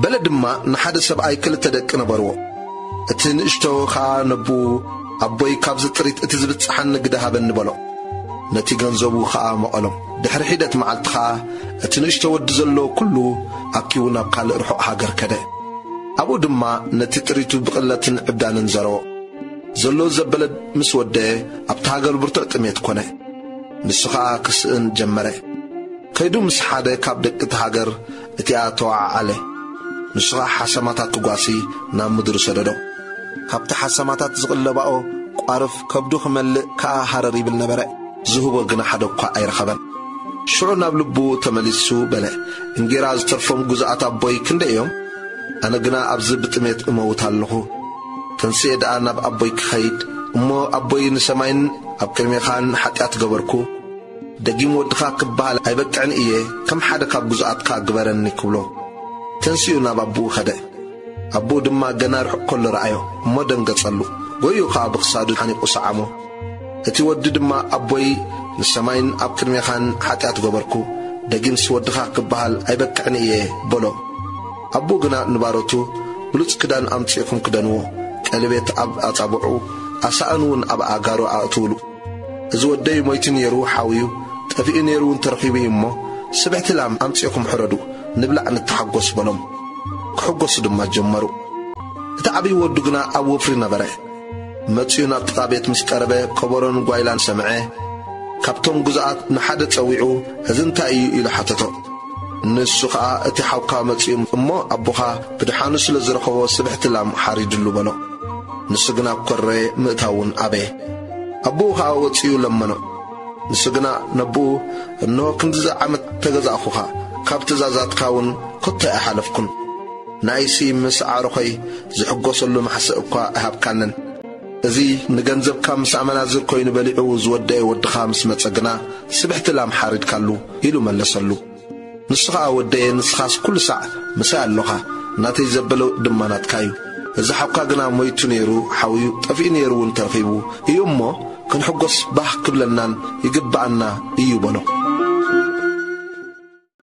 በለ ድማ ንሓደ ሰብኣይ ክልተ ደቂ ነበርዎ። እቲ ንእሽቶ ኸኣ ነቦኡ፣ ኣቦይ ካብዚ ጥሪት እቲ ዚብጽሓኒ ግደ ሃበኒ በሎ። ነቲ ገንዘቡ ኸኣ መቐሎም። ድሕሪ ሒደት መዓልቲ ኸኣ እቲ ንእሽቶ ወዲ ዘለዎ ኵሉ ኣኪቡ ናብ ካልእ ርሑቕ ሃገር ከደ። ኣብኡ ድማ ነቲ ጥሪቱ ብቕለትን ዕብዳንን ዘረዎ። ዘሎ ዘበለ ምስ ወደኤ ኣብታ ሃገር ብርቱዕ ጥሜት ኰነ። ንሱ ኸኣ ክስእን ጀመረ። ከይዱ ምስ ሓደ ካብ ደቂ እታ ሃገር፣ እቲኣ ተወዓዓለ፣ ንሱ ኸኣ ሓሰማታት ክጓሲ ናብ ምድሩ ሰደዶ። ካብቲ ሓሰማታት ዝቕለባኦ ቋርፍ ከብዱ ክመልእ ከኣ ሃረር ይብል ነበረ። ዝህቦ ግና ሓደ እኳ ኣይረኸበን። ሽዑ ናብ ልቡ ተመሊሱ በለ፣ እንጌራ ዝተርፎም ግዙኣት ኣቦይ ክንደይ እዮም? ኣነ ግና ኣብዚ ብጥሜት እመውት ኣለኹ። ተንሲኤ ደኣ ናብ ኣቦይ ክኸይድ እሞ፣ ኣቦይ ንሰማይን ኣብ ቅድሜኻን ሓጢኣት ገበርኩ። ደጊም ወድኻ ክበሃል ኣይበቅዕን እየ፣ ከም ሓደ ካብ ግዙኣትካ ግበረኒ ክብሎ፣ ተንሲኡ ናብ ኣቦኡ ከደ። ኣቦኡ ድማ ገና ርሑቕ ከሎ ረኣዮ እሞ ደንገጸሉ፣ ጎይዩ ኸኣ ብኽሳዱ ሓኒቑ ሰዓሞ። እቲ ወዲ ድማ ኣቦይ ንሰማይን ኣብ ቅድሜኻን ሓጢኣት ገበርኩ፣ ደጊምስ ወድኻ ክበሃል ኣይበቅዕን እየ በሎ። ኣቦኡ ግና ንባሮቱ ብሉጽ ክዳን ኣምጺእኩም ክደንዎ፣ ቀሌቤት ኣብ ኣጻብዑ፣ ኣሳእንውን ኣብ ኣእጋሩ ኣእትውሉ፣ እዚ ወደይ ሞይቲ ኔሩ ሓውዩ ጠፊኡ ኔሩ ውን ተረኺቡ እዩ እሞ ስብሕቲ ላም ኣምጺእኹም ሕረዱ ንብላዕ ንተሓጎስ በሎም። ክሕጎሱ ድማ ጀመሩ። እቲ ዓብዪ ወዱ ግና ኣብ ወፍሪ ነበረ። መጺኡ ናብ ጥቓ ቤት ምስ ቀረበ ከበሮን ጓይላን ሰምዐ። ካብቶም ግዙኣት ንሓደ ጸዊዑ እዚ እንታይ እዩ ኢሉ ሓተቶ። ንሱ ከኣ እቲ ሓውካ መጺኡ እሞ ኣቦኻ ብደሓኑ ስለ ዝረኸቦ ስብሕቲ ላም ሓሪድሉ በሎ። ንሱ ግና ኮረ ምእታው ውን ኣበየ። ኣቦኡ ኸኣ ወጺኡ ለመኖ። ንሱ ግና ነቦኡ፣ እንሆ፣ ክንድዚ ዓመት ተገዛእኹኻ፣ ካብ ትእዛዛትካውን ከቶ ኣይሓለፍኩን። ንኣይሲ ምስ ኣዕሩኸይ ዝሕጐሰሉ ማሕስእ እኳ ኣይሃብካንን። እዚ ንገንዘብካ ምስ ኣመናዝር ኰይኑ በሊዑ ዝወደኤ ወድኻ ምስ መጸ ግና፣ ስብሕቲ ላም ሓሪድካሉ፣ ኢሉ መለሰሉ። ንሱ ኸኣ ወደየ ንስኻስ ኩሉ ሳዕ ምሳይ ኣሎኻ ናተይ ዘበለ ድማ ናትካ እዩ እዚ ሓውካ ግና ሞይቱ ነይሩ ሓውዩ ጠፊኡ ነይሩ እውን ተረኺቡ እዩ እሞ ክንሕጎስ ባህ ክብለናን ይግብኣና እዩ በሎ።